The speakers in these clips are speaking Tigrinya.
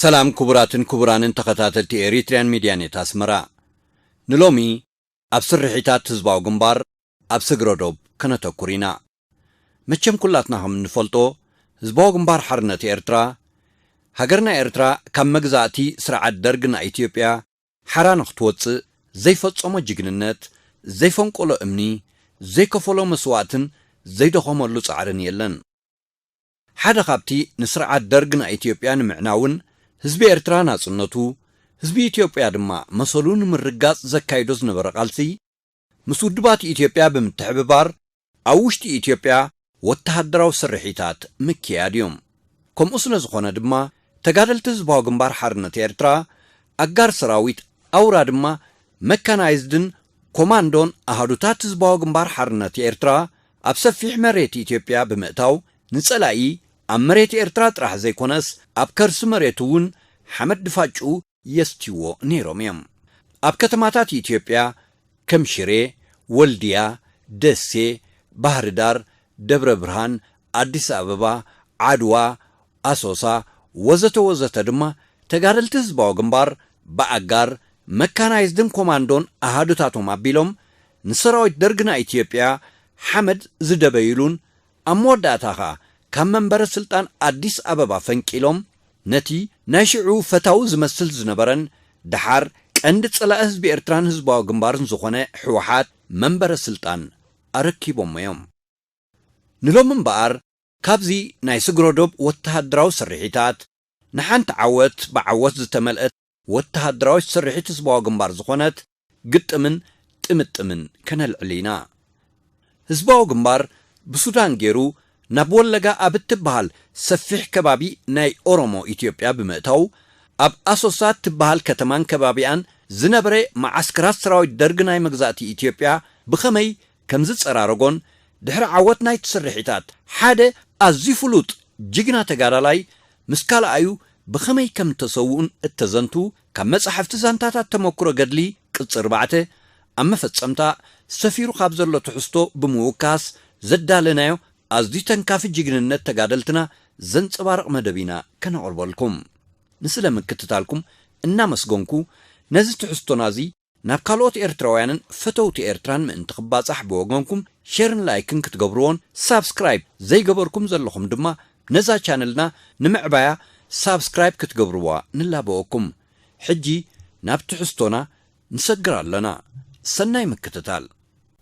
ሰላም ክቡራትን ክቡራንን ተኸታተልቲ ኤሪትሪያን ሚድያ ኔት ኣስመራ ንሎሚ ኣብ ስርሒታት ህዝባዊ ግንባር ኣብ ስግረ ዶብ ከነተኩር ኢና። መቸም ኩላትና ከም እንፈልጦ ህዝባዊ ግንባር ሓርነት ኤርትራ ሃገርና ኤርትራ ካብ መግዛእቲ ስርዓት ደርግ ናይ ኢትዮጵያ ሓራ ንክትወጽእ ዘይፈጸሞ ጅግንነት፣ ዘይፈንቆሎ እምኒ፣ ዘይከፈሎ መስዋእትን ዘይደኸመሉ ጻዕርን የለን። ሓደ ካብቲ ንስርዓት ደርግ ናይ ኢትዮጵያ ንምዕናውን ህዝቢ ኤርትራ ናጽነቱ፣ ህዝቢ ኢትዮጵያ ድማ መሰሉ ንምርግጋጽ ዘካይዶ ዝነበረ ቃልሲ፣ ምስ ውድባት ኢትዮጵያ ብምትሕብባር ኣብ ውሽጢ ኢትዮጵያ ወተሃደራዊ ስርሒታት ምክያድ እዩ። ከምኡ ስለ ዝኾነ ድማ ተጋደልቲ ህዝባዊ ግንባር ሓርነት ኤርትራ፣ ኣጋር ሰራዊት፣ ኣውራ ድማ መካናይዝድን ኮማንዶን ኣሃዱታት ህዝባዊ ግንባር ሓርነት ኤርትራ ኣብ ሰፊሕ መሬት ኢትዮጵያ ብምእታው ንጸላኢ ኣብ መሬት ኤርትራ ጥራሕ ዘይኮነስ ኣብ ከርሲ መሬቱ'ውን ሓመድ ድፋጭኡ የስትይዎ ነይሮም እዮም። ኣብ ከተማታት ኢትዮጵያ ከም ሽሬ፣ ወልድያ፣ ደሴ፣ ባህርዳር፣ ደብረ ብርሃን፣ ኣዲስ ኣበባ፣ ዓድዋ፣ ኣሶሳ ወዘተ ወዘተ ድማ ተጋደልቲ ህዝባዊ ግንባር ብኣጋር፣ መካናይዝድን ኮማንዶን ኣሃዱታቶም ኣቢሎም ንሰራዊት ደርግና ኢትዮጵያ ሓመድ ዝደበዩሉን ኣብ መወዳእታ ከኣ ካብ መንበረ ስልጣን ኣዲስ ኣበባ ፈንቂሎም ነቲ ናይ ሽዑ ፈታዊ ዝመስል ዝነበረን ደሓር ቀንዲ ጸላኢ ህዝቢ ኤርትራን ህዝባዊ ግንባርን ዝኾነ ሕወሓት መንበረ ስልጣን ኣረኪቦሞ እዮም። ንሎሚ እምበኣር ካብዚ ናይ ስግረዶብ ወተሃደራዊ ስርሒታት ንሓንቲ ዓወት ብዓወት ዝተመልእት ወተሃደራዊት ስርሒት ህዝባዊ ግንባር ዝኾነት ግጥምን ጥምጥምን ከነልዕል ኢና። ህዝባዊ ግንባር ብሱዳን ገይሩ ናብ ወለጋ ኣብ እትበሃል ሰፊሕ ከባቢ ናይ ኦሮሞ ኢትዮጵያ ብምእታው ኣብ ኣሶሳ እትበሃል ከተማን ከባቢኣን ዝነበረ መዓስከራት ሰራዊት ደርግ ናይ መግዛእቲ ኢትዮጵያ ብኸመይ ከም ዝጸራረጎን ድሕሪ ዓወት ናይቲ ስርሒታት ሓደ ኣዝዩ ፍሉጥ ጅግና ተጋዳላይ ምስ ካልኣዩ ብኸመይ ከም እተሰውኡን እተዘንቱ ካብ መጻሕፍቲ ዛንታታት ተመኩሮ ገድሊ ቅጽ ኣርባዕተ ኣብ መፈጸምታ ሰፊሩ ካብ ዘሎ ትሕዝቶ ብምውካስ ዘዳለናዮ ኣዝዩ ተንካፊ ጅግንነት ተጋደልትና ዘንጸባርቕ መደብ ኢና ከነቕርበልኩም ንስለ ምክትታልኩም እናመስገንኩ ነዚ ትሕዝቶና እዚ ናብ ካልኦት ኤርትራውያንን ፈተውቲ ኤርትራን ምእንቲ ክባጻሕ ብወገንኩም ሸርን ላይክን ክትገብርዎን ሳብስክራይብ ዘይገበርኩም ዘለኹም ድማ ነዛ ቻነልና ንምዕባያ ሳብስክራይብ ክትገብርዋ ንላበወኩም ሕጂ ናብ ትሕዝቶና ንሰግር ኣለና ሰናይ ምክትታል።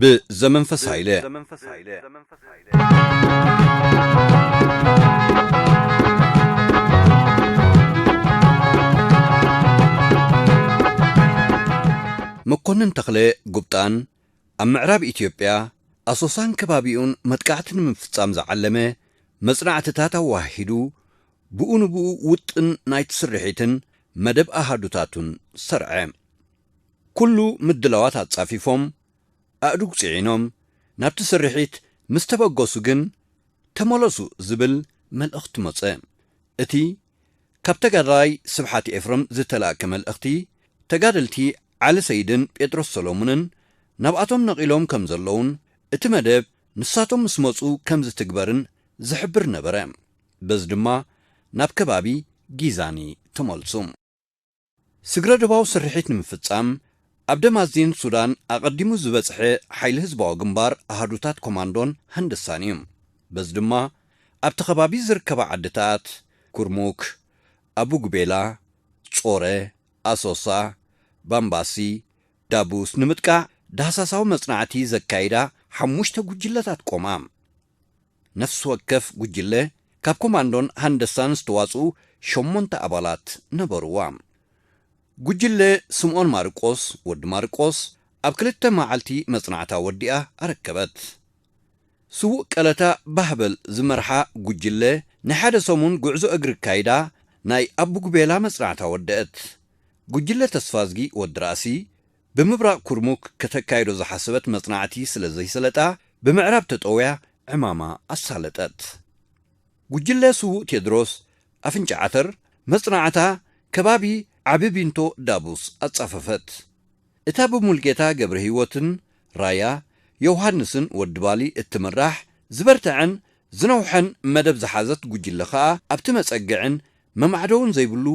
ብዘመንፈስ ሃይለ። መኮንን ተኽለ ጉብጣን ኣብ ምዕራብ ኢትዮጵያ ኣሶሳን ከባቢኡን መጥቃዕቲ ንምፍጻም ዝዓለመ መጽናዕትታት ኣወሃሂዱ ብኡ ንብኡ ውጥን ናይቲ ስርሒትን መደብ ኣሃዱታቱን ሰርዐ። ኩሉ ምድላዋት ኣጻፊፎም ኣእዱግ ጽዒኖም ናብቲ ስርሒት ምስ ተበገሱ ግን ተመለሱ ዝብል መልእኽቲ መጸ። እቲ ካብ ተጋዳላይ ስብሓት ኤፍረም ዝተላእከ መልእኽቲ ተጋደልቲ ዓሊ ሰይድን ጴጥሮስ ሰለሙንን ናብኣቶም ነቒሎም ከም ዘለዉን እቲ መደብ ንሳቶም ምስ መጹ ከም ዝትግበርን ዝሕብር ነበረ። በዚ ድማ ናብ ከባቢ ጊዛኒ ተመልሱ። ስግረ-ዶባዊ ስርሒት ንምፍጻም፣ ኣብ ደማዚን ሱዳን ኣቐዲሙ ዝበጽሐ ሓይሊ ህዝባዊ ግንባር ኣሃዱታት ኮማንዶን ሃንደሳን እዩ። በዚ ድማ ኣብቲ ከባቢ ዝርከባ ዓድታት፣ ኩርሙክ፣ ኣቡጉቤላ፣ ጾረ፣ ኣሶሳ፣ ባምባሲ፣ ዳቡስ ንምጥቃዕ ዳህሳሳዊ መጽናዕቲ ዘካይዳ ሓሙሽተ ጉጅለታት ቆማ። ነፍሲ ወከፍ ጉጅለ ካብ ኮማንዶን ሃንደሳን ዝተዋጽኡ ሸሞንተ ኣባላት ነበሩዋ። ጉጅለ ስምኦን ማርቆስ፣ ወዲ ማርቆስ፣ ኣብ ክልተ መዓልቲ መጽናዕታ ወዲኣ ኣረከበት። ስዉእ ቀለታ ባህበል ዝመርሓ ጉጅለ ናይ ሓደ ሰሙን ጉዕዞ እግሪ ኣካይዳ ናይ ኣቡጉቤላ መጽናዕታ ወደኣት። ጉጅለ ተስፋዝጊ፣ ወዲ ራእሲ፣ ብምብራቕ ኩርሙክ ከተካይዶ ዝሓሰበት መጽናዕቲ ስለ ዘይሰለጣ፣ ብምዕራብ ተጠውያ ዕማማ ኣሳለጠት። ጉጅለ ስዉእ ቴድሮስ ኣፍንጫ ዓተር መጽናዕታ ከባቢ ዓቢ ቢንቶ ዳቡስ ኣጻፈፈት። እታ ብሙልጌታ ገብረሂወትን ራያ ዮውሃንስን ወዲ ባሊ እትምራሕ ዝበርተዐን ዝነውሐን መደብ ዝሓዘት ጉጅለ ከኣ ኣብቲ መጸግዕን መማዕደውን ዘይብሉ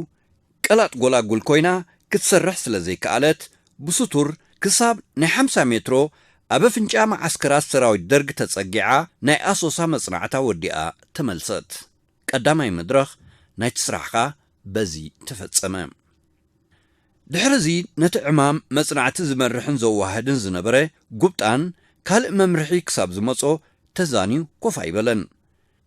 ቀላጥ ጎላጉል ኮይና ክትሰርሕ ስለ ዘይከኣለት፣ ብስቱር ክሳብ ናይ ሓምሳ ሜትሮ ኣብ ኣፍንጫ መዓስከራት ሰራዊት ደርግ ተጸጊዓ ናይ ኣሶሳ መጽናዕታ ወዲኣ ተመልሰት። ቀዳማይ መድረኽ ናይቲ ስራሕኻ በዚ ተፈጸመ። ድሕርዚ ነቲ ዕማም መጽናዕቲ ዝመርሕን ዘዋህድን ዝነበረ ጉብጣን ካልእ መምርሒ ክሳብ ዝመጾ ተዛንዩ ኮፍ ኣይበለን።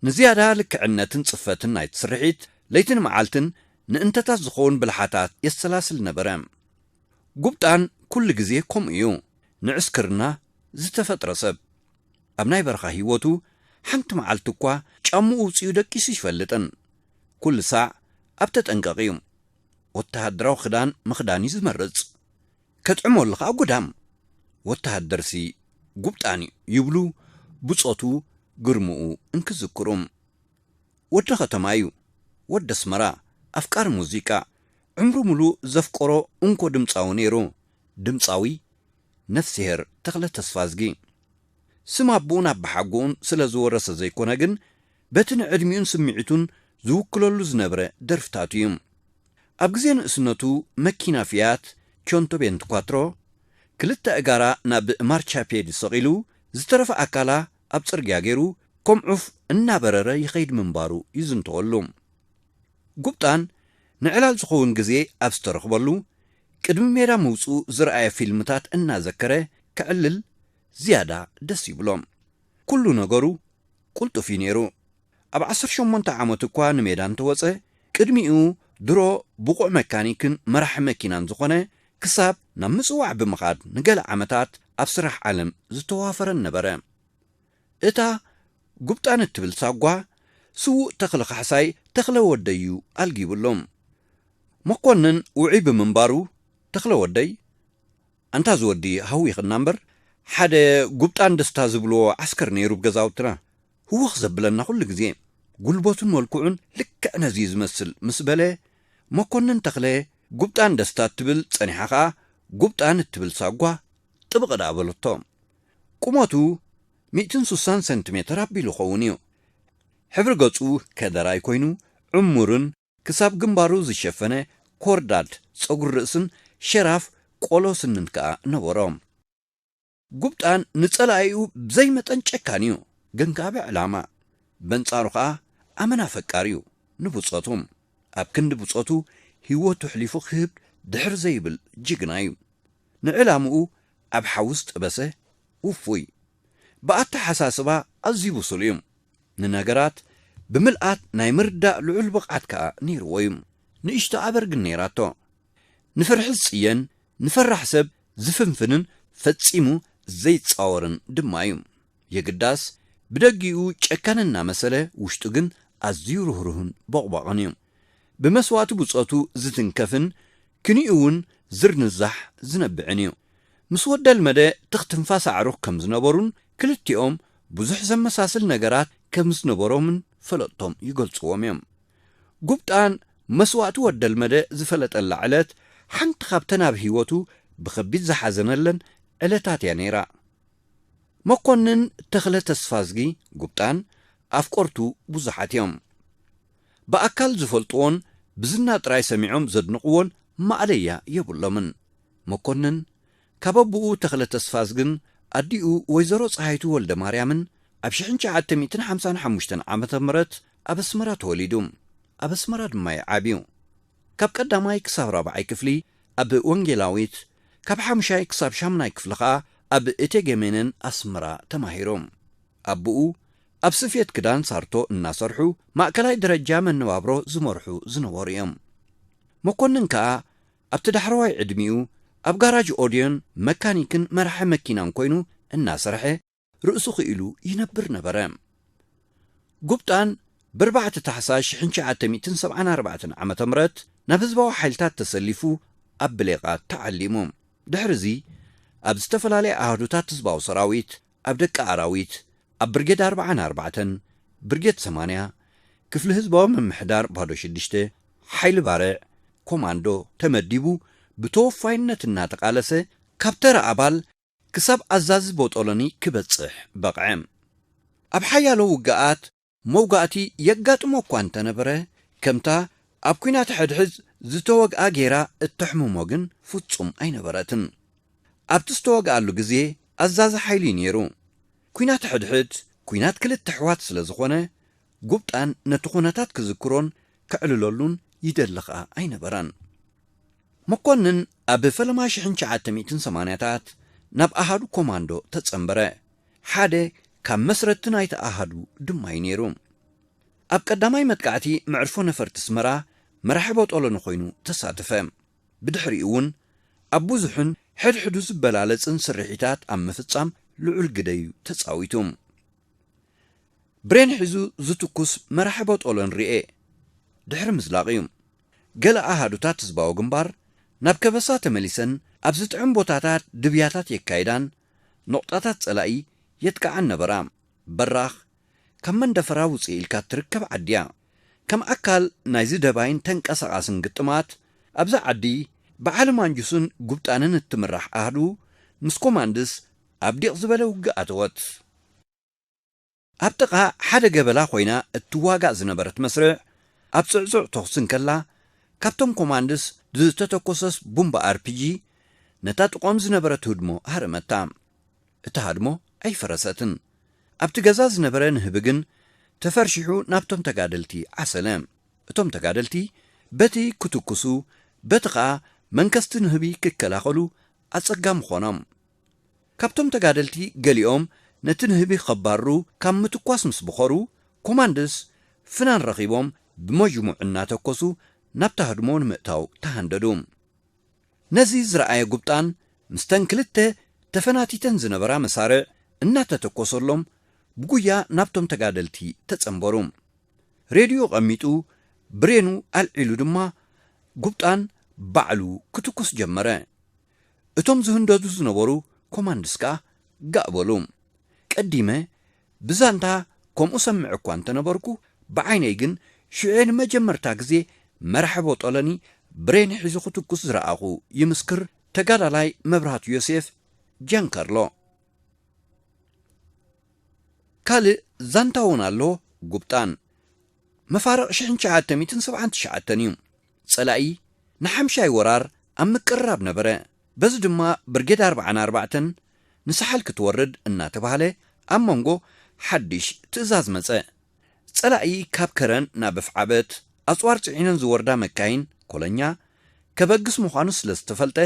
ንዝያዳ ልክዕነትን ጽፈትን ናይቲ ስርሒት፣ ለይትን መዓልትን ንእንተታት ዝኸውን ብልሓታት የሰላስል ነበረ። ጉብጣን ኩሉ ግዜ ከምኡ እዩ፣ ንዕስክርና ዝተፈጥረ ሰብ። ኣብ ናይ በረኻ ህይወቱ ሓንቲ መዓልቲ እኳ ጫምኡ ኣውጺኡ ደቂሱ ኣይፈልጥን። ኩሉ ሳዕ ኣብ ተጠንቀቕ እዩ። ወተሃደራዊ ክዳን ምኽዳን እዩ ዝመርጽ። ከጥዕመሉ ከኣ ጉዳም ወተሃደርሲ ጉብጣን'ዩ ይብሉ ብጾቱ ግርምኡ እንክዝክሩ። ወዲ ከተማ'ዩ፣ ወዲ ኣስመራ፣ ኣፍቃሪ ሙዚቃ፣ ዕምሩ ምሉእ ዘፍቀሮ እንኮ ድምጻዊ ነይሩ፣ ድምጻዊ ነፍስሄር ተኽለ ተስፋዝጊ። ስም ኣቦኡን ኣባሓጎኡን ስለ ዝወረሰ ዘይኮነ ግን በቲ ንዕድሚኡን ስምዒቱን ዝውክለሉ ዝነብረ ደርፍታቱ'ዩ። ኣብ ግዜ ንእስነቱ መኪና ፊያት ቾንቶ ቤንትኳትሮ፣ ክልተ ኣእጋራ ናብ ማርቻፔድ ሰቒሉ ዝተረፈ ኣካላ ኣብ ጽርግያ ገይሩ ከም ዑፍ እናበረረ ይኸይድ ምንባሩ ይዝንተወሉ። ጉብጣን ንዕላል ዝኸውን ግዜ ኣብ ዝተረኽበሉ ቅድሚ ሜዳ ምውጽኡ ዝርኣየ ፊልምታት እናዘከረ ከዕልል ዝያዳ ደስ ይብሎ። ኩሉ ነገሩ ቁልጡፍ እዩ ነይሩ። ኣብ ዓሰርተ ሸሞንተ ዓመቱ እኳ ንሜዳ እንተወጸ፣ ቅድሚኡ ድሮ ብቑዕ መካኒክን መራሒ መኪናን ዝኾነ፣ ክሳብ ናብ ምጽዋዕ ብምኻድ ንገለ ዓመታት ኣብ ስራሕ ዓለም ዝተዋፈረን ነበረ። እታ ጉብጣን እትብል ሳጓ፣ ስዉእ ተኽለ ካሕሳይ ተኽለ ወደይ'ዩ ኣልጊቡሎም። መኮንን ውዑይ ብምንባሩ፣ ተኽለ ወደይ፣ ኣንታ እዚ ወዲ ሃዊኽና እምበር፣ ሓደ ጉብጣን ደስታ ዝብልዎ ዓስከር ነይሩ ብ ገዛውትና፣ ህውኽ ዘብለና ኩሉ ግዜ ጉልበቱን መልክዑን ልክዕ ነዚ'ዩ ዝመስል ምስ በለ መኮንን ተኽለ ጉብጣን ደስታ እትብል ጸኒሓ ከኣ ጉብጣን እትብል ሳጓ ጥብቕ ደኣ በለቶ። ቁመቱ ሚእትን ሱሳን ሰንቲሜተር ኣቢሉ ይኸውን እዩ። ሕብሪ ገጹ ከደራይ ኮይኑ ዕሙርን ክሳብ ግንባሩ ዝሸፈነ ኮርዳድ ጸጉሪ ርእስን ሸራፍ ቆሎ ስንን ከኣ ነበሮ። ጉብጣን ንጸላኢኡ ብዘይመጠን ጨካን እዩ፣ ገንጋቢ ዕላማ። በንጻሩ ከኣ ኣመና ፈቃር እዩ ንብጾቱ። ኣብ ክንዲ ብጾቱ ህይወቱ ኣሕሊፉ ክህብ ድሕር ዘይብል ጅግና እዩ። ንዕላምኡ ኣብ ሓዊ ዝጠበሰ ውፉይ። ብኣተሓሳስባ ኣዝዩ ብሱል እዩ። ንነገራት ብምልኣት ናይ ምርዳእ ልዑል ብቕዓት ከኣ ነይርዎ እዩ። ንእሽቶ ኣበር ግን ነይራቶ። ንፍርሒ ዝጽየን ንፈራሕ ሰብ ዝፍንፍንን ፈጺሙ ዘይጻወርን ድማ እዩ። የግዳስ፣ ብደጊኡ ጨካን እናመሰለ ውሽጡ ግን ኣዝዩ ርህሩህን ቦቕቧቕን እዩ። ብመስዋእቲ ብጾቱ ዝትንከፍን ክንዩ'ውን ዝርንዛሕ ዝነብዕን እዩ። ምስ ወደልመደ ትኽ ትንፋስ ኣዕሩኽ ከም ዝነበሩን ክልቲኦም ብዙሕ ዘመሳስል ነገራት ከም ዝነበሮምን ፈለጥቶም ይገልጽዎም እዮም። ጉብጣን መስዋእቲ ወደልመደ ዝፈለጠላ ዕለት ሓንቲ ካብተን ኣብ ህይወቱ ብኸቢድ ዝሓዘነለን ዕለታት እያ ነይራ። መኮንን ተኽለ ተስፋዝጊ፣ ጉብጣን፣ ኣፍቆርቱ ብዙሓት እዮም። ብኣካል ዝፈልጥዎን ብዝና ጥራይ ሰሚዖም ዘድንቕዎን ማእለያ የብሎምን። መኮንን ካብ ኣቡኡ ተኽለ ተስፋዝግን ኣዲኡ ወይዘሮ ጸሃይቱ ወልደማርያምን ኣብ ሽሕን ትሽዓተ ሚእትን ሓምሳን ሓሙሽተን ዓመተ ምህረት ኣብ ኣስመራ ተወሊዱ። ኣብ ኣስመራ ድማ'ዩ ዓብዩ። ካብ ቀዳማይ ክሳብ ራብዓይ ክፍሊ ኣብ ወንጌላዊት፣ ካብ ሓሙሻይ ክሳብ ሻሙናይ ክፍሊ ከኣ ኣብ እቴጌ ሜነን ኣስመራ ተማሂሩ። ኣቡኡ ኣብ ስፌት ክዳን ሳርቶ እናሰርሑ ማእከላይ ደረጃ መነባብሮ ዝመርሑ ዝነበሩ'ዮም። መኮንን ከኣ ኣብቲ ዳሕረዋይ ዕድሚኡ ኣብ ጋራጅ ኦድዮን መካኒክን መራሒ መኪናን ኮይኑ እናሰርሐ ርእሱ ክኢሉ ይነብር ነበረ። ጉብጣን ብርባዕተ ታሕሳስ ሽሕን ትሽዓተ ሚእትን ሰብዓን ኣርባዕተን ዓመተ ምረት ናብ ህዝባዊ ሓይልታት ተሰሊፉ ኣብ ብሌቓ ተዓሊሙ። ድሕሪዚ ኣብ ዝተፈላለየ ኣሃዱታት ህዝባዊ ሰራዊት ኣብ ደቂ ኣራዊት፣ ኣብ ብርጌድ ኣርብዓን ኣርባዕተን፣ ብርጌድ ሰማንያ፣ ክፍሊ ህዝባዊ ምምሕዳር ባዶ ሽዱሽተ፣ ሓይሊ ባርዕ፣ ኮማንዶ፣ ተመዲቡ ብተወፋይነት እናተቓለሰ ካብ ተራ ኣባል ክሳብ ኣዛዚ ቦጦሎኒ ክበጽሕ በቕዐ። ኣብ ሓያሎ ውግኣት፣ መውጋእቲ የጋጥሞ እኳ እንተ ነበረ፣ ከምታ ኣብ ኲናት ሕድሕዝ ዝተወግኣ ገይራ እተሕምሞ ግን ፍጹም ኣይነበረትን። ኣብቲ ዝተወግኣሉ ግዜ ኣዛዚ ሓይሊ እዩ ነይሩ። ኲናት ሕድሕድ ኲናት ክልተ ኣሕዋት ስለ ዝዀነ፣ ጉብጣን ነቲ ዅነታት ክዝክሮን ከዕልለሉን ይደሊ ኸኣ ኣይነበረን። መኰንን ኣብ ፈለማ ሽሕን ትሽዓተ ሚእትን ሰማንያታት ናብ ኣሃዱ ኮማንዶ ተጸንበረ። ሓደ ካብ መስረትቲ ናይቲ ኣሃዱ ድማ'ዩ ነይሩ። ኣብ ቀዳማይ መጥቃዕቲ መዕርፎ ነፈርቲ ኣስመራ መራሒ ቦጦሎኒ ኮይኑ ተሳተፈ። ብድሕሪኡ'ውን ኣብ ብዙሕን ሕድሕዱ ዝበላለጽን ስርሒታት ኣብ ምፍጻም ልዑል ግደ'ዩ ተጻዊቱ። ብሬን ሒዙ ዝትኩስ መራሒ ቦጦሎኒ ርኤ ድሕሪ ምዝላቕ'ዩ። ገለ ኣሃዱታት ህዝባዊ ግንባር ናብ ከበሳ ተመሊሰን ኣብ ዝጥዕም ቦታታት ድብያታት የካይዳን ኑቕጣታት ጸላኢ የጥቅዓን ነበራ። በራኽ ካብ መንደፈራ ውጽእ ኢልካ እትርከብ ዓዲ'ያ። ከም ኣካል ናይዚ ደባይን ተንቀሳቓስን ግጥማት፣ ኣብዛ ዓዲ ብዓሊ ማንጁስን ጉብጣንን እትምራሕ ኣሃዱ ምስ ኮማንድስ ኣብ ዲቕ ዝበለ ውግእ ኣተወት። ኣብ ጥቓ ሓደ ገበላ ኮይና እትዋጋእ ዝነበረት መስርዕ፣ ኣብ ጽዕጹዕ ተኹሲ እንከላ፣ ካብቶም ኮማንድስ ብዝተተኮሰስ ቡምባ ኣርፒጂ ነታ ጥቖም ዝነበረት ህድሞ ሃረመታ። እታ ህድሞ ኣይፈረሰትን። ኣብቲ ገዛ ዝነበረ ንህቢ ግን ተፈርሺሑ ናብቶም ተጋደልቲ ዓሰለ። እቶም ተጋደልቲ በቲ ክትኩሱ በቲ ከኣ መንከስቲ ንህቢ ክከላኸሉ ኣጸጋሚ ኮኖም። ካብቶም ተጋደልቲ ገሊኦም ነቲ ንህቢ ከባርሩ ካብ ምትኳስ ምስ ቦኸሩ፣ ኮማንድስ ፍናን ረኺቦም ብመዥሙዕ እናተኮሱ ናብታ ህድሞ ንምእታው ተሃንደዱ። ነዚ ዝረኣየ ጉብጣን ምስተን ክልተ ተፈናቲተን ዝነበራ መሳርዕ እናተተኮሰሎም ብጉያ ናብቶም ተጋደልቲ ተጸንበሩ። ሬድዮ ቐሚጡ ብሬኑ ኣልዒሉ ድማ ጉብጣን ባዕሉ ክትኩስ ጀመረ። እቶም ዝህንደዱ ዝነበሩ ኮማንድስ ከኣ ጋእ በሉ። ቀዲመ ብዛንታ ከምኡ ሰምዕ እኳ እንተ ነበርኩ፣ ብዓይነይ ግን ሽዑ'የ ንመጀመርታ ግዜ መራሕቦ ጠለኒ ብሬን ሒዙ ክትኩስ ዝረኣኹ ይምስክር ተጋዳላይ መብራህቱ ዮሴፍ፣ ጃንከርሎ። ካልእ ዛንታ'ውን ኣሎ ጉብጣን። መፋርቕ ሽሕን ትሽዓተ ሚእትን ሰብዓን ትሽዓተን'ዩ። ጸላኢ ንሓምሻይ ወራር ኣብ ምቅርራብ ነበረ። በዚ ድማ ብርጌድ ኣርብዓን ኣርባዕተን ንሳሕል ክትወርድ እናተባህለ ኣብ መንጎ ሓዲሽ ትእዛዝ መጸ። ጸላኢ ካብ ከረን ናብ ኣፍዓበት ኣጽዋር ጽዒነን ዝወርዳ መካይን ኮለኛ ከበግስ ምዃኑ ስለ ዝተፈልጠ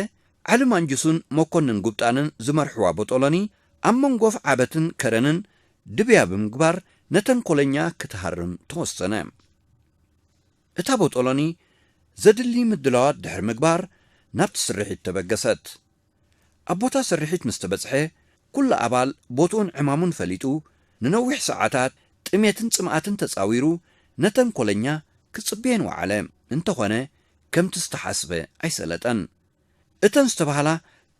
ዓሊ ማንጁሱን መኮንን ጉብጣንን ዝመርሕዋ ቦጦሎኒ ኣብ መንጎ ኣፍዓበትን ከረንን ድብያ ብምግባር ነተን ኮለኛ ክትሃርም ተወሰነ። እታ ቦጦሎኒ ዘድሊ ምድላዋት ድሕሪ ምግባር ናብቲ ስርሒት ተበገሰት። ኣብ ቦታ ስርሒት ምስ ተበጽሐ ኩሉ ኣባል ቦትኡን ዕማሙን ፈሊጡ ንነዊሕ ሰዓታት ጥሜትን ጽምኣትን ተጻዊሩ ነተን ኮለኛ ክጽበየን ወዓለ። እንተኾነ ከምቲ ዝተሓስበ ኣይሰለጠን። እተን ዝተባህላ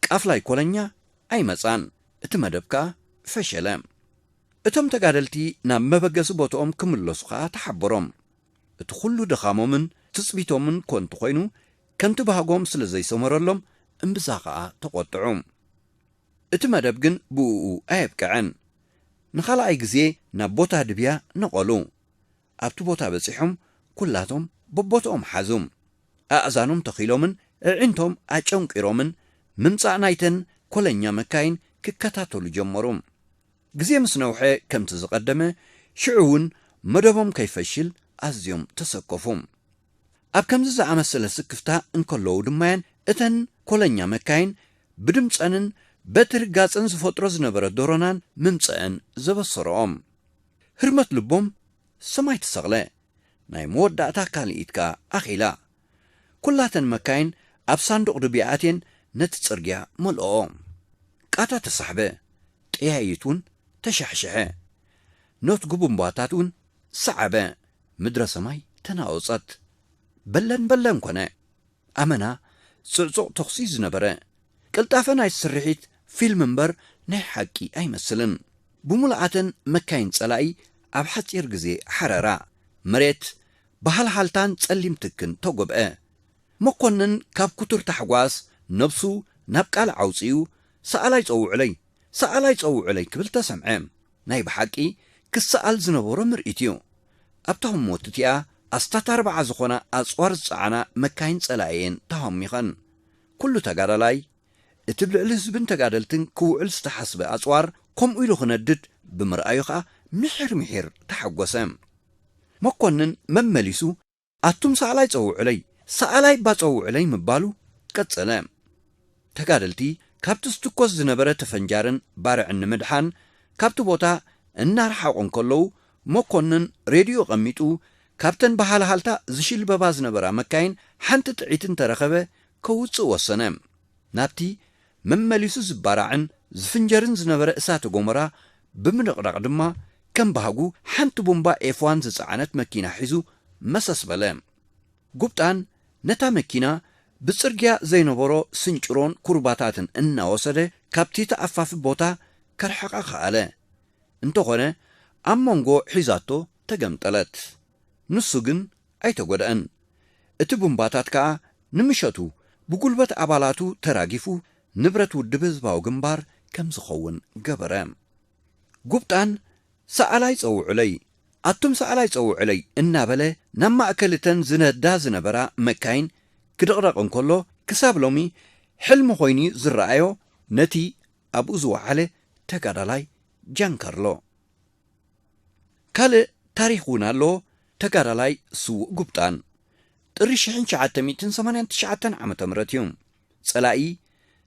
ቃፍላይ ኮለኛ ኣይመጻን። እቲ መደብ ከኣ ፈሸለ። እቶም ተጋደልቲ ናብ መበገሲ ቦትኦም ክምለሱ ከኣ ተሓበሮም። እቲ ኹሉ ድኻሞምን ትጽቢቶምን ኮንቱ ኮይኑ ከምቲ ባህጎም ስለ ዘይሰመረሎም እምብዛ ከኣ ተቆጥዑ። እቲ መደብ ግን ብኡኡ ኣየብቀዐን። ንኻልኣይ ግዜ ናብ ቦታ ድብያ ነቐሉ። ኣብቲ ቦታ በጺሖም ኩላቶም በቦትኦም ሓዙ። ኣእዛኖም ተኺሎምን እዒንቶም ኣጨንቂሮምን ምምጻእ ናይተን ኮለኛ መካይን ክከታተሉ ጀመሩ። ግዜ ምስ ነውሐ ከምቲ ዝቐደመ ሽዑ እውን መደቦም ከይፈሽል ኣዝዮም ተሰከፉ። ኣብ ከምዚ ዝኣመሰለ ስክፍታ እንከለዉ ድማ'የን እተን ኮለኛ መካይን ብድምጸንን በቲ ርጋጸን ዝፈጥሮ ዝነበረ ዶሮናን ምምጸኣን ዘበሰረኦም። ህርመት ልቦም ሰማይ ተሰቕለ። ናይ መወዳእታ ካልኢት ከኣ ኣኺላ። ኩላተን መካይን ኣብ ሳንዱቕ ዱቢ ኣትየን ነቲ ጽርግያ መልኦኦ። ቃታ ተሳሕበ፣ ጠያይት እውን ተሻሕሸሐ። ኖትጉ ቡምባታት እውን ሰዓበ፣ ምድረ ሰማይ ተናወጸት። በለን በለን ኮነ። ኣመና ጽዕጹቕ ተኹሲ ዝነበረ። ቅልጣፈ ናይቲ ስርሒት ፊልም እምበር ናይ ሓቂ ኣይመስልን። ብምሉኣተን መካይን ጸላኢ ኣብ ሓጺር ግዜ ሓረራ። መሬት ብሃልሃልታን ጸሊም ትክን ተጐብዐ። መኰንን ካብ ክቱር ታሕጓስ ነብሱ ናብ ቃልዕ ኣውጺኡ፣ ሰኣላይ ጸውዑለይ! ሰኣላይ ጸውዑለይ! ክብል ተሰምዐ። ናይ ብሓቂ ክሰኣል ዝነበሮ ምርኢት'ዩ። ኣብታ ህሞት'ቲኣ ኣስታት ኣርብዓ ዝዀና ኣጽዋር ዝጸዓና መካይን ጸላኢ'የን ተሃሚኸን። ኵሉ ተጋዳላይ እቲ ብ ልዕሊ ህዝብን ተጋደልትን ክውዕል ዝተሓስበ ኣጽዋር ከምኡ ኢሉ ክነድድ ብምርኣዩ ከኣ ምሒር ምሒር ተሓጎሰ። መኮንን መመሊሱ ኣቱም ሰኣላይ ጸውዑለይ፣ ሰኣላይ'ባ ጸውዑለይ ምባሉ ቀጸለ። ተጋደልቲ ካብቲ ዝትኮስ ዝነበረ ተፈንጃርን ባርዕን ንምድሓን ካብቲ ቦታ እናረሓቑ እንከለዉ መኮንን ሬድዮኡ ኣቐሚጡ ካብተን ብሃልሃልታ ዝሽልበባ ዝነበራ መካይን ሓንቲ ጥዒት እንተረኸበ ከውጽእ ወሰነ። ናብቲ መመሊሱ ዝባራዕን ዝፍንጀርን ዝነበረ እሳተ ጎመራ ብምንቕናቕ ድማ ከም ባህጉ ሓንቲ ቡምባ ኤፍ ዋን ዝጸዓነት መኪና ሒዙ መሰስ በለ። ጉብጣን ነታ መኪና ብጽርግያ ዘይነበሮ ስንጭሮን ኩርባታትን እናወሰደ ካብቲ ተኣፋፊ ቦታ ከርሕቓ ከኣለ። እንተኾነ ኣብ መንጎ ሒዛቶ ተገምጠለት። ንሱ ግን ኣይተጎድኣን። እቲ ቡምባታት ከኣ ንምሸቱ ብጉልበት ኣባላቱ ተራጊፉ ንብረት ውድብ ህዝባዊ ግንባር ከም ዝኸውን ገበረ። ጉብጣን ሰኣላይ ጸውዑለይ፣ ኣቱም ሰኣላይ ጸውዑለይ እናበለ ናብ ማእከል እተን ዝነዳ ዝነበራ መካይን ክድቕደቕ እንከሎ ክሳብ ሎሚ ሕልሚ ኮይኑ'ዩ ዝረኣዮ ነቲ ኣብኡ ዝወዓለ ተጋዳላይ ጃንካርሎ። ካልእ ታሪኽ እውን ኣሎ ተጋዳላይ ስዉእ ጉብጣን ጥሪ ሽሕን ትሽዓተ ሚእትን ሰማንያን ትሽዓተን ዓመተ ምህረት እዩ ጸላኢ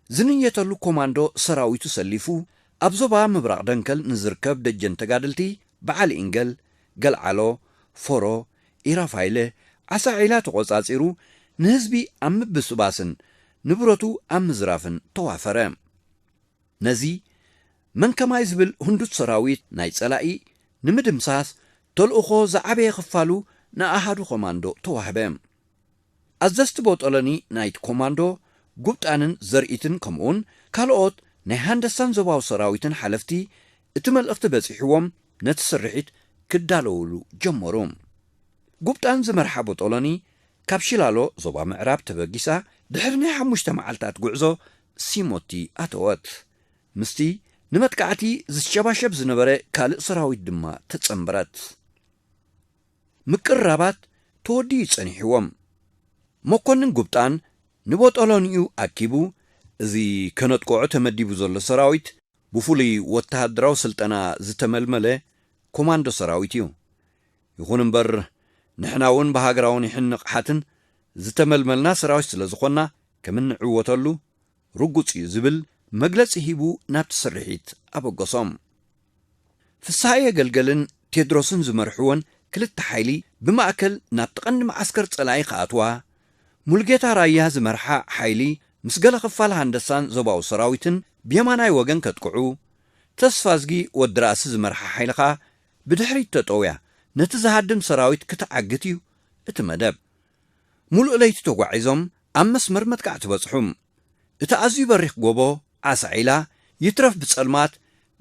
ዝንየተሉ ኮማንዶ ሰራዊቱ ሰሊፉ ኣብ ዞባ ምብራቕ ደንከል ንዝርከብ ደጀን ተጋደልቲ በዓል ኢንገል፣ ገልዓሎ፣ ፎሮ፣ ኢራፋይለ፣ ዓሳ ዒላ ተቖጻጺሩ ንህዝቢ ኣብ ምብስባስን ንብረቱ ኣብ ምዝራፍን ተዋፈረ። ነዚ መን ከማይ ዝብል ህንዱት ሰራዊት ናይ ጸላኢ ንምድምሳስ ተልእኾ ዝዓበየ ክፋሉ ንኣሃዱ ኮማንዶ ተዋህበ። ኣዘዝቲ ቦጦሎኒ ናይቲ ኮማንዶ ጉብጣንን ዘርኢትን ከምኡውን ካልኦት ናይ ሃንደሳን ዞባዊ ሰራዊትን ሓለፍቲ እቲ መልእኽቲ በጺሕዎም ነቲ ስርሒት ክዳለዉሉ ጀመሩ። ጉብጣን ዝመርሓ ቦጦሎኒ ካብ ሺላሎ፣ ዞባ ምዕራብ፣ ተበጊሳ ድሕሪ ናይ ሓሙሽተ መዓልታት ጉዕዞ ሲሞቲ ኣተወት። ምስቲ ንመጥቃዕቲ ዝሸባሸብ ዝነበረ ካልእ ሰራዊት ድማ ተጸንበረት። ምቅርራባት ተወዲኡ ጸኒሕዎም። መኮንን ጉብጣን ንቦጦሎኒኡ ኣኪቡ፣ እዚ ከነጥቅዖ ተመዲቡ ዘሎ ሰራዊት ብፍሉይ ወተሃደራዊ ስልጠና ዝተመልመለ ኮማንዶ ሰራዊት እዩ። ይኹን እምበር ንሕና እውን ብሃገራዊ ኒሕን ንቕሓትን ዝተመልመልና ሰራዊት ስለ ዝኾንና ከም እንዕወተሉ ርጉጽ እዩ ዝብል መግለጺ ሂቡ ናብቲ ስርሒት ኣበገሶም። ፍስሃየ ገልገልን ቴድሮስን ዝመርሕወን ክልተ ሓይሊ ብማእከል ናብቲ ቀንዲ መዓስከር ጸላኢ ክኣትዋ፣ ሙሉጌታ ራያ ዝመርሓ ሓይሊ ምስ ገለ ክፋል ሃንደሳን ዞባዊ ሰራዊትን ብየማናይ ወገን ከጥቅዑ፣ ተስፋዝጊ ወዲ ራእሲ ዝመርሓ ሓይሊ ከኣ ብድሕሪት ተጠውያ ነቲ ዝሃድም ሰራዊት ክትዓግት እዩ እቲ መደብ። ሙሉእ ለይቲ ተጓዒዞም ኣብ መስመር መጥቃዕቲ በጽሑ። እቲ ኣዝዩ በሪኽ ጎቦ ዓሳ ዒላ ይትረፍ ብጸልማት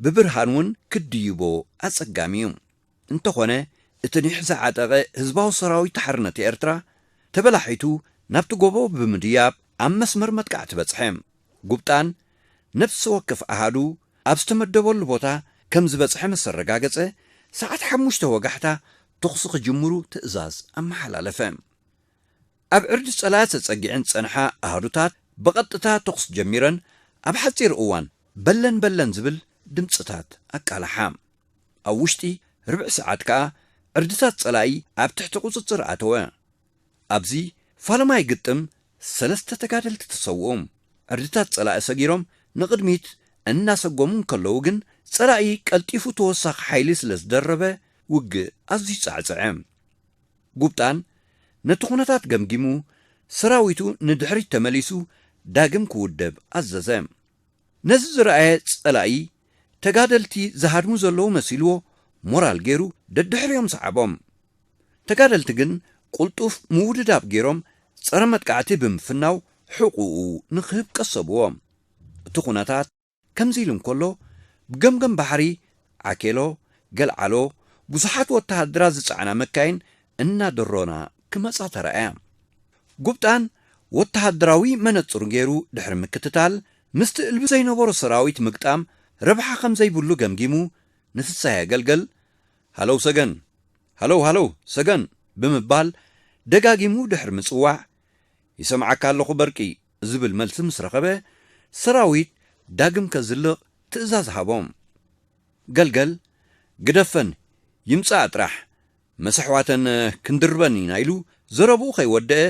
ብብርሃን እውን ክትድይቦ ኣጸጋሚ እዩ። እንተኾነ እቲ ኒሕ ዝዓጠቐ ህዝባዊ ሰራዊት ሓርነት ኤርትራ ተበላሒቱ ናብቲ ጎቦ ብምድያብ ኣብ መስመር መጥቃዕቲ በጽሐ። ጉብጣን ነፍሲ ወከፍ ኣሃዱ ኣብ ዝተመደበሉ ቦታ ከም ዝበጽሐ ምስ ኣረጋገጸ፣ ሰዓት ሓሙሽተ ወጋሕታ ተኹሲ ክጅምሩ ትእዛዝ ኣመሓላለፈ። ኣብ ዕርዲ ጸላእት ተጸጊዐን ዝጸንሓ ኣሃዱታት ብቐጥታ ተኹሲ ጀሚረን ኣብ ሓጺር እዋን በለን በለን ዝብል ድምጽታት ኣቃላሓ። ኣብ ውሽጢ ርብዒ ሰዓት ከኣ ዕርድታት ጸላኢ ኣብ ትሕቲ ቁጽጽር ኣተወ። ኣብዚ ፋለማይ ግጥም ሰለስተ ተጋደልቲ ተሰውኡ። ዕርድታት ፀላኢ ሰጊሮም ንቕድሚት እናሰጎሙ እንከለዉ ግን ፀላኢ ቀልጢፉ ተወሳኺ ሓይሊ ስለ ዝደረበ ውግእ ኣዝዩ ፃዕፀዐ። ጉብጣን ነቲ ኩነታት ገምጊሙ ሰራዊቱ ንድሕሪት ተመሊሱ ዳግም ክውደብ ኣዘዘ። ነዚ ዝረኣየ ፀላኢ ተጋደልቲ ዝሃድሙ ዘለዉ መሲልዎ ሞራል ገይሩ ደድሕሪኦም ሰዓቦም። ተጋደልቲ ግን ቁልጡፍ ምውድዳብ ገይሮም ጸረ መጥቃዕቲ ብምፍናው ሕቁኡ ንክህብ ቀሰብዎ። እቲ ኩነታት ከምዚ ኢሉ እንከሎ ብገምገም ባሕሪ ዓኬሎ፣ ገልዓሎ፣ ብዙሓት ወተሃደራት ዝጸዓና መካይን እናደሮና ክመጻ ተራእያ። ጉብጣን ወተሃደራዊ መነጽሩ ገይሩ ድሕሪ ምክትታል ምስቲ እልቢ ዘይነበሮ ሰራዊት ምግጣም ረብሓ ከምዘይብሉ ገምጊሙ ንፍስሃየ ገልገል ሃሎው ሰገን! ሃሎው ሃሎው ሰገን! ብምባል ደጋጊሙ ድሕሪ ምጽዋዕ፣ ይሰምዓካ ኣለኹ በርቂ! ዝብል መልሲ ምስ ረኸበ፣ ሰራዊት ዳግም ከዝልቕ ትእዛዝ ሃቦም። ገልገል፣ ግደፈን፣ ይምጽኣ ጥራሕ፣ መስ ኣሕዋተን ክንድርበን ኢና ኢሉ ዘረብኡ ከይወደኣ፣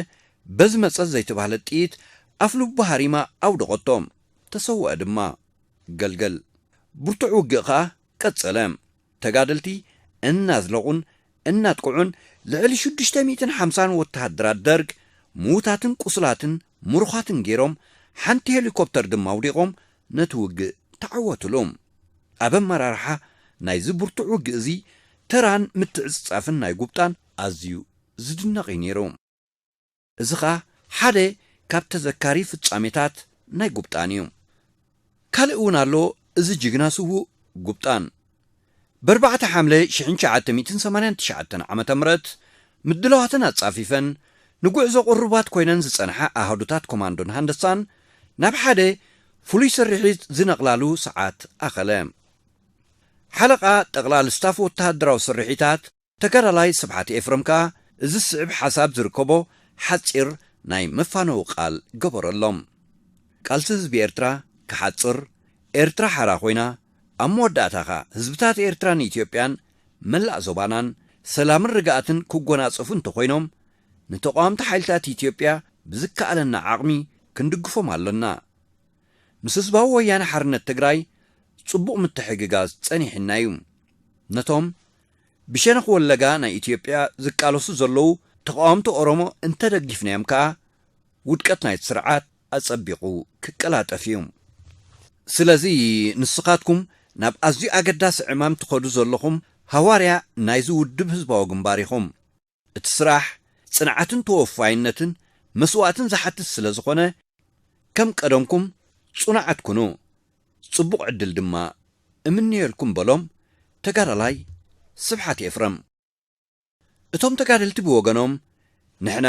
በዚ መጸት ዘይተባህለት ጥይት ኣፍ ልቡ ሃሪማ ኣውደቐቶም። ተሰወኣ ድማ። ገልገል። ብርቱዕ ውግእ ከኣ ቀጸለ። ተጋደልቲ እናዝለቑን እናጥቅዑን ልዕሊ ሽዱሽተ ሚእትን ሓምሳን ወተሃደራት ደርግ ምዉታትን ቁሱላትን ምሩኻትን ገይሮም ሓንቲ ሄሊኮፕተር ድማ ኣውዲቖም ነቲ ውግእ ተዓወትሉ። ኣብ ኣመራርሓ ናይዚ ብርቱዕ ውግእ እዚ ተራን ምትዕጽጻፍን ናይ ጉብጣን ኣዝዩ ዝድነቕ እዩ ነይሩ። እዚ ከኣ ሓደ ካብ ተዘካሪ ፍጻሜታት ናይ ጉብጣን ኢዩ። ካልእ እውን ኣሎ እዚ ጅግና ስዉእ ጉብጣን በርባዕተ ሓምለ ሽሕን ትሽዓተ ሚእትን ሰማንያን ትሽዓተን ዓመተ ምረት ምድላዋተን ኣጻፊፈን ንጉዕዞ ቁሩባት ኮይነን ዝጸንሓ ኣሃዱታት ኮማንዶን ሃንደሳን ናብ ሓደ ፍሉይ ስርሒት ዝነቕላሉ ሰዓት ኣኸለ። ሓለቓ ጠቕላል ስታፍ ወተሃደራዊ ስርሒታት ተጋዳላይ ስብሓት ኤፍረም ከኣ እዚ ዝስዕብ ሓሳብ ዝርከቦ ሓጺር ናይ መፋነዊ ቃል ገበረሎም። ቃልሲ ህዝቢ ኤርትራ ክሓጽር፣ ኤርትራ ሓራ ኮይና፣ ኣብ መወዳእታ ከኣ ህዝብታት ኤርትራን ኢትዮጵያን መላእ ዞባናን ሰላምን ርግኣትን ክጎናጸፉ እንተኾይኖም፣ ንተቓወምቲ ሓይልታት ኢትዮጵያ ብዝከኣለና ዓቕሚ ክንድግፎም ኣሎና። ምስ ህዝባዊ ወያነ ሓርነት ትግራይ ጽቡቕ ምትሕግጋዝ ጸኒሕና'ዩ። ነቶም ብሸነኽ ወለጋ ናይ ኢትዮጵያ ዝቃለሱ ዘለዉ ተቓወምቲ ኦሮሞ እንተደጊፍናዮም ከኣ ውድቀት ናይቲ ስርዓት ኣጸቢቑ ክቀላጠፍ እዩ። ስለዚ ንስኻትኩም ናብ ኣዝዩ ኣገዳሲ ዕማም ትኸዱ ዘለኹም ሃዋርያ ናይዚ ውድብ ህዝባዊ ግንባር ኢኹም። እቲ ስራሕ ጽንዓትን ተወፋይነትን መስዋእትን ዝሓትት ስለ ዝኾነ ከም ቀደምኩም ጽኑዓት ኩኑ ጽቡቕ ዕድል ድማ እምነየልኩም በሎም ተጋዳላይ ስብሓት ኤፍረም። እቶም ተጋደልቲ ብወገኖም ንሕና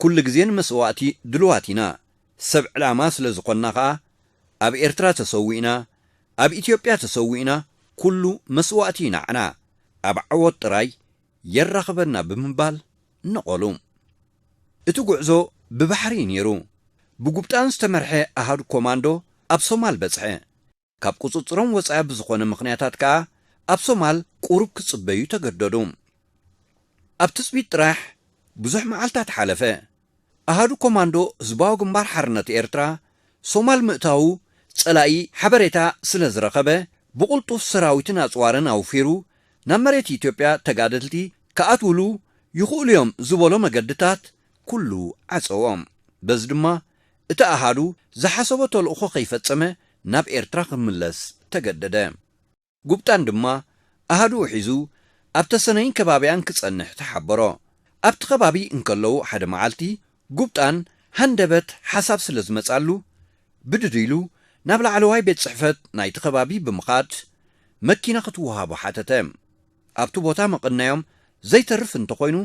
ኩሉ ግዜ ንመስዋእቲ ድሉዋት ኢና፣ ሰብ ዕላማ ስለ ዝኾንና ከኣ ኣብ ኤርትራ ተሰዊእና ኣብ ኢትዮጵያ ተሰዊእና ኩሉ መስዋእቲ እዩ ንዓና ኣብ ዓወት ጥራይ የራኽበና ብምባል ነቐሉ። እቲ ጉዕዞ ብባሕሪ እዩ ነይሩ። ብጉብጣን ዝተመርሐ ኣሃዱ ኮማንዶ ኣብ ሶማል በጽሐ። ካብ ቁጽጽሮም ወጻኢ ብዝኾነ ምኽንያታት ከኣ ኣብ ሶማል ቁሩብ ክጽበዩ ተገደዱ። ኣብ ትጽቢት ጥራሕ ብዙሕ መዓልታት ሓለፈ። ኣሃዱ ኮማንዶ ህዝባዊ ግንባር ሓርነት ኤርትራ፣ ሶማል ምእታዉ ጸላኢ ሓበሬታ ስለ ዝረኸበ፣ ብቕልጡፍ ሰራዊትን ኣጽዋርን ኣውፊሩ ናብ መሬት ኢትዮጵያ ተጋደልቲ ክኣትዉሉ ይኽእሉ'ዮም ዝበሎ መገድታት ኩሉ ዓጸዎም። በዚ ድማ እቲ ኣሃዱ ዝሓሰቦ ተልእኾ ከይፈጸመ ናብ ኤርትራ ክምለስ ተገደደ። ጉብጣን ድማ ኣሃዱኡ ሒዙ ኣብ ተሰነይን ከባቢኣን ክጸንሕ ተሓበሮ። ኣብቲ ከባቢ እንከለዉ ሓደ መዓልቲ ጉብጣን ሃንደበት ሓሳብ ስለ ዝመጽኣሉ ብድድ ኢሉ ናብ ላዕለዋይ ቤት ጽሕፈት ናይቲ ከባቢ ብምኻድ መኪና ክትወሃቦ ሓተተ። ኣብቲ ቦታ መቐነዮም ዘይተርፍ እንተኾይኑ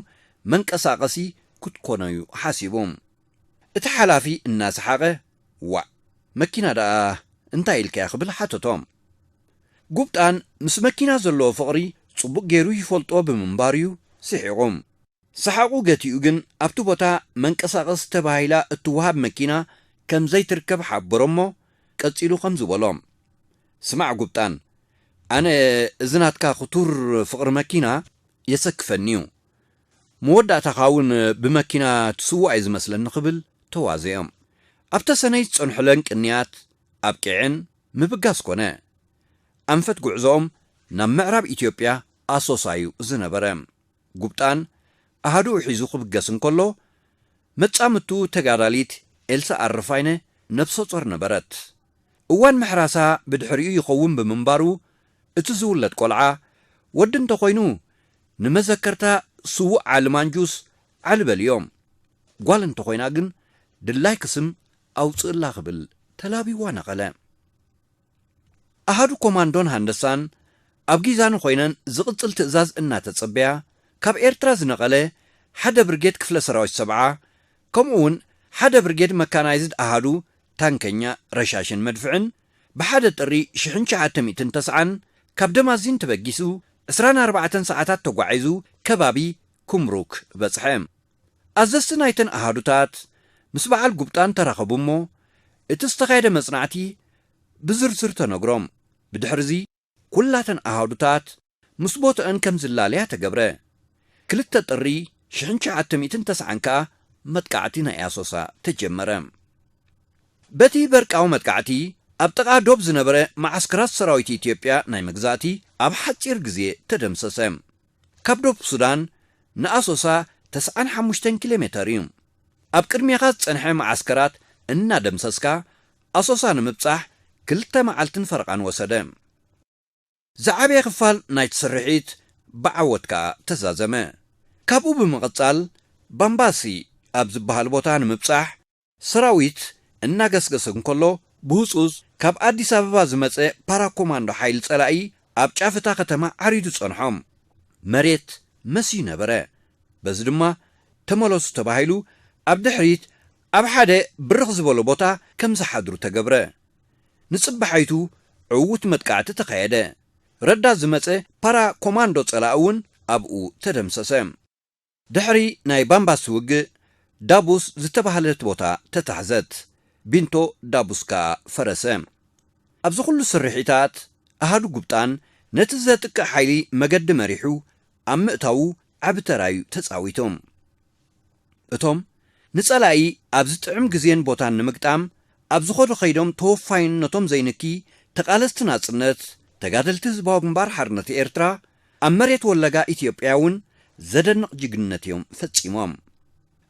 መንቀሳቐሲ ክትኮኖዩ ሓሲቡ። እቲ ሓላፊ እናሰሓቐ ዋእ መኪና ደኣ እንታይ ኢልካያ ክብል ሓተቶም። ጉብጣን ምስ መኪና ዘለዎ ፍቕሪ ጽቡቕ ገይሩ ይፈልጦ ብምንባሩ'ዩ ስሒቑ። ሰሓቑ ገቲኡ ግን ኣብቲ ቦታ መንቀሳቐሲ ተባሂላ እትወሃብ መኪና ከም ዘይትርከብ ሓበሮ'ሞ ቀጺሉ ከምዚ በሎም፣ ስማዕ ጉብጣን ኣነ እዚ ናትካ ክቱር ፍቕሪ መኪና የሰክፈኒ'ዩ። መወዳእታኻ እውን ብመኪና ትስዋእ እዩ ዝመስለኒ ክብል ተዋዘዮም። ኣብ ተሰነይ ዝጸንሑለን ቅንያት ኣብቂዐን ምብጋስ ኮነ። ኣንፈት ጉዕዞኦም ናብ ምዕራብ ኢትዮጵያ ኣሶሳ እዩ ዝነበረ። ጉብጣን ኣሃዱኡ ሒዙ ክብገስ እንከሎ፣ መጻምድቱ ተጋዳሊት ኤልሳ ኣረፋይነ ነብሰጾር ነበረት። እዋን ምሕራሳ ብድሕሪኡ ይኸውን ብምንባሩ እቲ ዝውለድ ቆልዓ ወዲ እንተኾይኑ ንመዘከርታ ስውእ ዓሊ ማንጁስ ዓሊ በልዮም ጓል እንተኾይና ግን ድላይኪ ስም ኣውፅእላ ክብል ተላብይዋ ነቐለ። ኣሃዱ ኮማንዶን ሃንደሳን ኣብ ጊዛኖ ኮይነን ዝቕፅል ትእዛዝ እናተፀበያ ካብ ኤርትራ ዝነቐለ ሓደ ብርጌድ ክፍለ ሰራዊት ሰብዓ ከምኡ እውን ሓደ ብርጌድ መካናይዝድ ኣሃዱ ታንከኛ ረሻሽን መድፍዕን ብሓደ ጥሪ ሽሕን ትሽዓተ ሚእትን ተስዓን ካብ ደማዚን ተበጊሱ ዕስራን ኣርባዕተን ሰዓታት ተጓዒዙ ከባቢ ኩምሩክ በፅሐ። ኣዘዝቲ ናይተን ኣሃዱታት ምስ በዓል ጉብጣን ተራኸቡ እሞ እቲ ዝተኻየደ መፅናዕቲ ብዝርዝር ተነግሮም። ብድሕሪ እዚ። ኩላተን ኣሃዱታት ምስ ቦትኣን ከም ዝላለያ ተገብረ። ክልተ ጥሪ ሽሕን ትሽዓተ ሚእትን ተስዓን ከኣ መጥቃዕቲ ናይ ኣሶሳ ተጀመረ። በቲ በርቃዊ መጥቃዕቲ ኣብ ጥቓ ዶብ ዝነበረ መዓስከራት ሰራዊት ኢትዮጵያ ናይ መግዛእቲ ኣብ ሓጺር ግዜ ተደምሰሰ። ካብ ዶብ ሱዳን ንኣሶሳ ተስዓን ሓሙሽተን ኪሎሜተር እዩ። ኣብ ቅድሜኻ ዝጸንሐ መዓስከራት እናደምሰስካ ኣሶሳ ንምብጻሕ ክልተ መዓልትን ፈረቓን ወሰደ። ዝዓበየ ክፋል ናይቲ ስርሒት ብዓወት ከኣ ተዛዘመ። ካብኡ ብምቕጻል ባምባሲ ኣብ ዝበሃል ቦታ ንምብጻሕ ሰራዊት እናገስገሰ እንከሎ ብህጹጽ ካብ ኣዲስ ኣበባ ዝመጸ ፓራ ኮማንዶ ሓይሊ ጸላኢ ኣብ ጫፍ እታ ከተማ ዓሪዱ ጸንሖም። መሬት መስዩ ነበረ። በዚ ድማ ተመለሱ ተባሂሉ ኣብ ድሕሪት ኣብ ሓደ ብርኽ ዝበሎ ቦታ ከም ዝሓድሩ ተገብረ። ንጽባሓይቱ ዕዉት መጥቃዕቲ ተኻየደ። ረዳት ዝመጸ ፓራ ኮማንዶ ጸላኢ እውን ኣብኡ ተደምሰሰ። ድሕሪ ናይ ባምባሲ ውግእ፣ ዳቡስ ዝተባህለት ቦታ ተታሕዘት፣ ቢንቶ ዳቡስ ከኣ ፈረሰ። ኣብዚ ኹሉ ስርሒታት፣ ኣሃዱ ጉብጣን ነቲ ዘጥቅዕ ሓይሊ መገዲ መሪሑ ኣብ ምእታዉ ዓቢ ተራ'ዩ ተጻዊቱ። እቶም ንጸላኢ ኣብ ዝጥዕም ግዜን ቦታን ንምግጣም ኣብ ዝኸዱ ከይዶም ተወፋይነቶም ዘይንኪ ተቓለስቲ ናጽነት ተጋደልቲ ህዝባዊ ግንባር ሓርነት ኤርትራ ኣብ መሬት ወለጋ ኢትዮጵያ እውን ዘደንቕ ጅግንነት እዮም ፈጺሞም።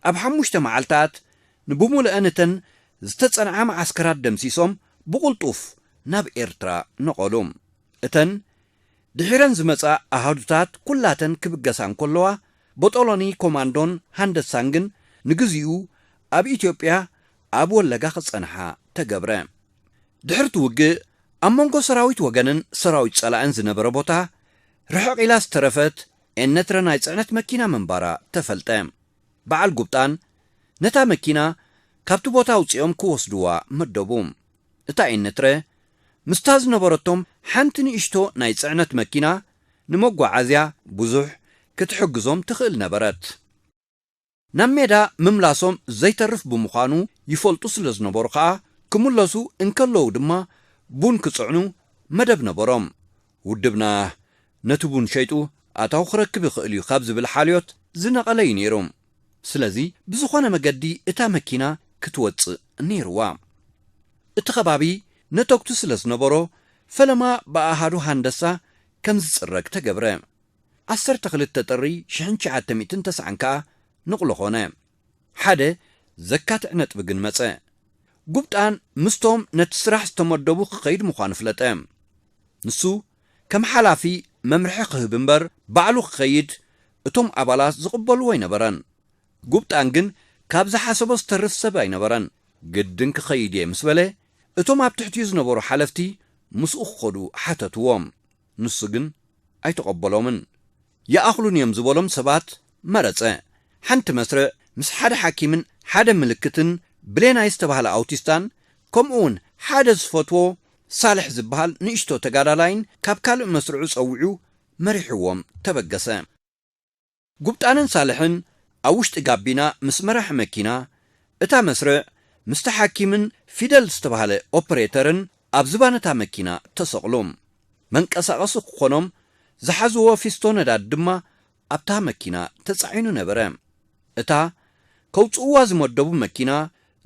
ኣብ ሓሙሽተ መዓልታት ንብሙልአን እተን ዝተጸንዓ መዓስከራት ደምሲሶም ብቕልጡፍ ናብ ኤርትራ ነቐሉ። እተን ድሒረን ዝመጻ ኣሃዱታት ኩላተን ክብገሳ እንከለዋ ቦጦሎኒ ኮማንዶን ሃንደሳን ግን ንግዚኡ ኣብ ኢትዮጵያ ኣብ ወለጋ ክጸንሓ ተገብረ። ድሕር'ቲ ውግእ ኣብ መንጎ ሰራዊት ወገንን ሰራዊት ጸላእን ዝነበረ ቦታ ርሕቕ ኢላ ዝተረፈት ኤነትረ ናይ ጽዕነት መኪና ምንባራ ተፈልጠ። በዓል ጉብጣን ነታ መኪና ካብቲ ቦታ ኣውጺኦም ክወስዱዋ መደቡ። እታ ኤነትረ ምስታ ዝነበረቶም ሓንቲ ንእሽቶ ናይ ጽዕነት መኪና ንመጓዓዝያ ብዙሕ ክትሕግዞም ትኽእል ነበረት። ናብ ሜዳ ምምላሶም ዘይተርፍ ብምዃኑ ይፈልጡ ስለ ዝነበሩ ከኣ ክምለሱ እንከለዉ ድማ ቡን ክጽዕኑ መደብ ነበሮም። ውድብና ነቲ ቡን ሸይጡ ኣታዊ ክረክብ ይኽእል እዩ ካብ ዝብል ሓልዮት ዝነቐለ እዩ ነይሩ። ስለዚ ብዝኾነ መገዲ እታ መኪና ክትወጽእ ነይሩዋ። እቲ ከባቢ ነተጕቲ ስለ ዝነበሮ ፈለማ ብኣሃዱ ሃንደሳ ከም ዝጽረግ ተገብረ። ዓሰርተ ክልተ ጥሪ ሽሕን ትሽዓተ ሚእትን ተስዓን ከኣ ንቕሎ ኮነ። ሓደ ዘካትዕ ነጥቢ ግን መጸ። ጉብጣን ምስቶም ነቲ ስራሕ ዝተመደቡ ክኸይድ ምዃኑ ፍለጠ። ንሱ ከም ሓላፊ መምርሒ ክህብ እምበር ባዕሉ ክኸይድ እቶም ኣባላት ዝቕበልዎ ኣይነበረን። ጉብጣን ግን ካብ ዝሓሰቦ ዝተርፍ ሰብ ኣይነበረን። ግድን ክኸይድ እየ ምስ በለ እቶም ኣብ ትሕቲኡ ዝነበሩ ሓለፍቲ ምስኡ ክኸዱ ሓተትዎ። ንሱ ግን ኣይተቐበሎምን። ይኣኽሉኒ እዮም ዝበሎም ሰባት መረጸ። ሓንቲ መስርዕ ምስ ሓደ ሓኪምን ሓደ ምልክትን ብሌናይ ዝተባህለ ኣውቲስታን ከምኡ'ውን ሓደ ዝፈትዎ ሳልሕ ዝበሃል ንእሽቶ ተጋዳላይን ካብ ካልእ መስርዑ ጸዊዑ መሪሕዎም ተበገሰ። ጉብጣንን ሳልሕን ኣብ ውሽጢ ጋቢና ምስ መራሒ መኪና እታ መስርዕ ምስቲ ሓኪምን ፊደል ዝተባህለ ኦፕሬተርን ኣብ ዝባን እታ መኪና ተሰቕሉ። መንቀሳቐሲ ክኾኖም ዝሓዝዎ ፊስቶ ነዳዲ ድማ ኣብታ መኪና ተጻዒኑ ነበረ። እታ ከውጽእዋ ዝመደቡ መኪና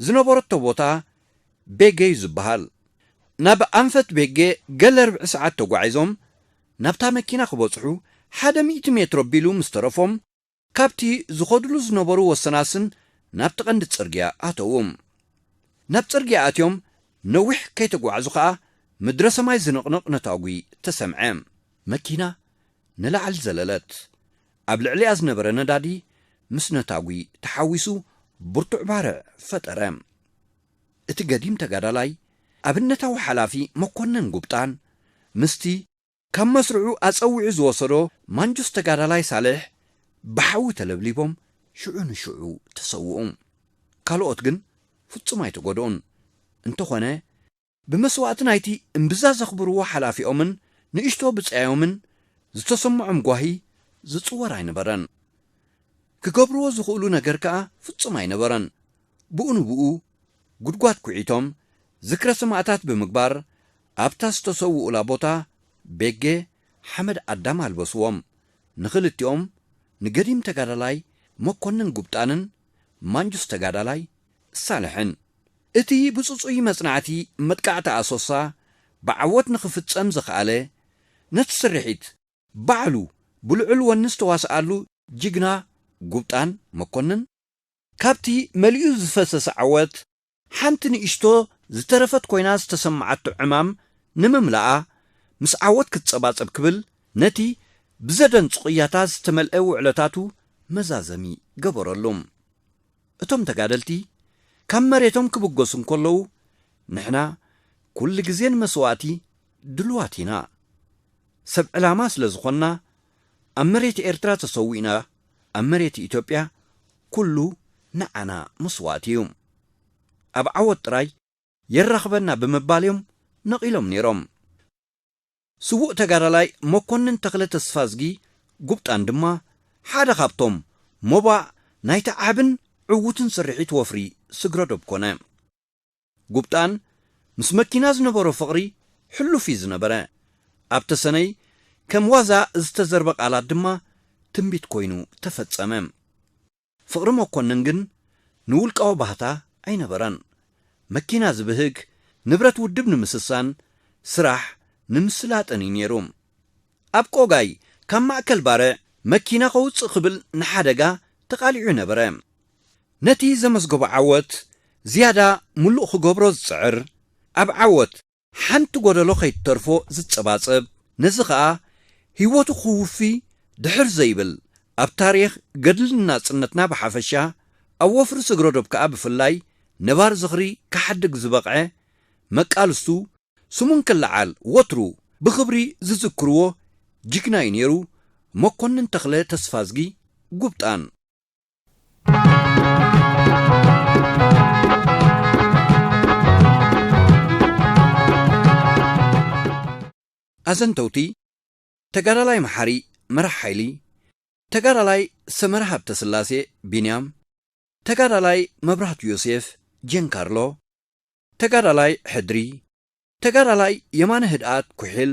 ዝነበረቶ ቦታ ቤጌ'ዩ ዝበሃል። ናብ ኣንፈት ቤጌ ገለ ርብዒ ሰዓት ተጓዒዞም ናብታ መኪና ክበጽሑ ሓደ ሚእቲ ሜትሮ ኣቢሉ ምስ ተረፎም፣ ካብቲ ዝኸዱሉ ዝነበሩ ወሰናስን ናብቲ ቀንዲ ጽርግያ ኣተዉ። ናብ ጽርግያ ኣትዮም ነዊሕ ከይተጓዕዙ ከኣ ምድረ ሰማይ ዝንቕንቕ ነታጒ ተሰምዐ። መኪና ንላዕሊ ዘለለት። ኣብ ልዕሊኣ ዝነበረ ነዳዲ ምስ ነታጒ ተሓዊሱ ብርቱዕ ባርዕ ፈጠረ። እቲ ገዲም ተጋዳላይ ኣብነታዊ ሓላፊ መኮነን ጉብጣን ምስቲ ካብ መስርዑ ኣጸዊዑ ዝወሰዶ ማንጁስ ተጋዳላይ ሳልሕ ብሓዊ ተለብሊቦም ሽዑ ንሽዑ ተሰውኡ። ካልኦት ግን ፍጹም ኣይተጎድኡን። እንተኾነ ብመስዋእቲ ናይቲ እምብዛ ዘኽብርዎ ሓላፊኦምን ንእሽቶ ብጻዮምን ዝተሰምዖም ጓሂ ዝጽወር ኣይነበረን። ክገብርዎ ዝኽእሉ ነገር ከኣ ፍጹም ኣይነበረን። ብኡ ንብኡ ጉድጓድ ኩዒቶም ዝክረ ሰማእታት ብምግባር ኣብታ ዝተሰውኡላ ቦታ ቤጌ ሓመድ ኣዳም ኣልበስዎም። ንኽልቲኦም ንገዲም ተጋዳላይ መኮንን ጉብጣንን ማንጁስ ተጋዳላይ ሳልሕን። እቲ ብጽጹይ መጽናዕቲ መጥቃዕቲ ኣሶሳ ብዓወት ንኽፍጸም ዘኽኣለ ነቲ ስርሒት፣ ባዕሉ ብልዑል ወኒ ዝተዋስኣሉ ጅግና ጉብጣን መኮንን፣ ካብቲ መሊኡ ዝፈሰሰ ዓወት ሓንቲ ንእሽቶ ዝተረፈት ኮይና ዝተሰመዓቶ ዕማም ንምምላኣ ምስ ዓወት ክትጸባጸብ ክብል ነቲ ብዘደንጹ ቅያታት ዝተመልኤ ውዕለታቱ መዛዘሚ ገበረሉ። እቶም ተጋደልቲ ካብ መሬቶም ክብገሱ እንከለዉ፣ ንሕና ኩሉ ግዜ ንመስዋእቲ ድሉዋት ኢና። ሰብ ዕላማ ስለ ዝኾንና፣ ኣብ መሬት ኤርትራ ተሰዊእና፣ ኣብ መሬት ኢትዮጵያ ኩሉ ንዓና መስዋእቲ እዩ። ኣብ ዓወት ጥራይ የራኽበና ብምባል እዮም ነቒሎም ነይሮም። ስዉእ ተጋዳላይ መኮንን ተኽለ ተስፋዝጊ፣ ጉብጣን፣ ድማ ሓደ ካብቶም ሞባእ ናይቲ ዓብን ዕዉትን ስርሒት ወፍሪ ስግረዶብ ኮነ። ጉብጣን ምስ መኪና ዝነበሮ ፍቕሪ ሕሉፍ እዩ ዝነበረ። ኣብ ተሰነይ ከም ዋዛ ዝተዘርበ ቃላት ድማ ትንቢት ኮይኑ ተፈጸመ። ፍቕሪ መኮንን ግን ንውልቃዊ ባህታ ኣይነበረን። መኪና ዝብህግ፣ ንብረት ውድብ ንምስሳን፣ ስራሕ ንምስላጥን እዩ ነይሩ። ኣብ ቆጋይ ካብ ማእከል ባርዕ መኪና ከውጽእ ክብል ንሓደጋ ተቓሊዑ ነበረ። ነቲ ዘመዝገቦ ዓወት ዝያዳ ምሉእ ክገብሮ ዝጽዕር፣ ኣብ ዓወት ሓንቲ ጎደሎ ከይትተርፎ ዝጸባጸብ፣ ነዚ ከኣ ህይወቱ ክውፊ ድሕር ዘይብል፣ ኣብ ታሪኽ ገድልን ናጽነትና ብሓፈሻ፣ ኣብ ወፍሪ ስግረዶብ ከኣ ብፍላይ ነባሪ ዝኽሪ ክሓድግ ዝበቕዐ መቃልስቱ፣ ስሙ እንክለዓል ወትሩ ብኽብሪ ዝዝክርዎ ጅግና'ዩ ነይሩ፣ መኮንን ተኽለ ተስፋዝጊ ጉብጣን። ኣዘንተውቲ፣ ተጋዳላይ መሓሪ መራሕ ሓይሊ፣ ተጋዳላይ ሰመረ ሃብተስላሴ፣ ቢንያም፣ ተጋዳላይ መብራህቱ ዮሴፍ፣ ጀንካርሎ፣ ተጋዳላይ ሕድሪ፣ ተጋዳላይ የማነ ህድኣት፣ ኩሒል፣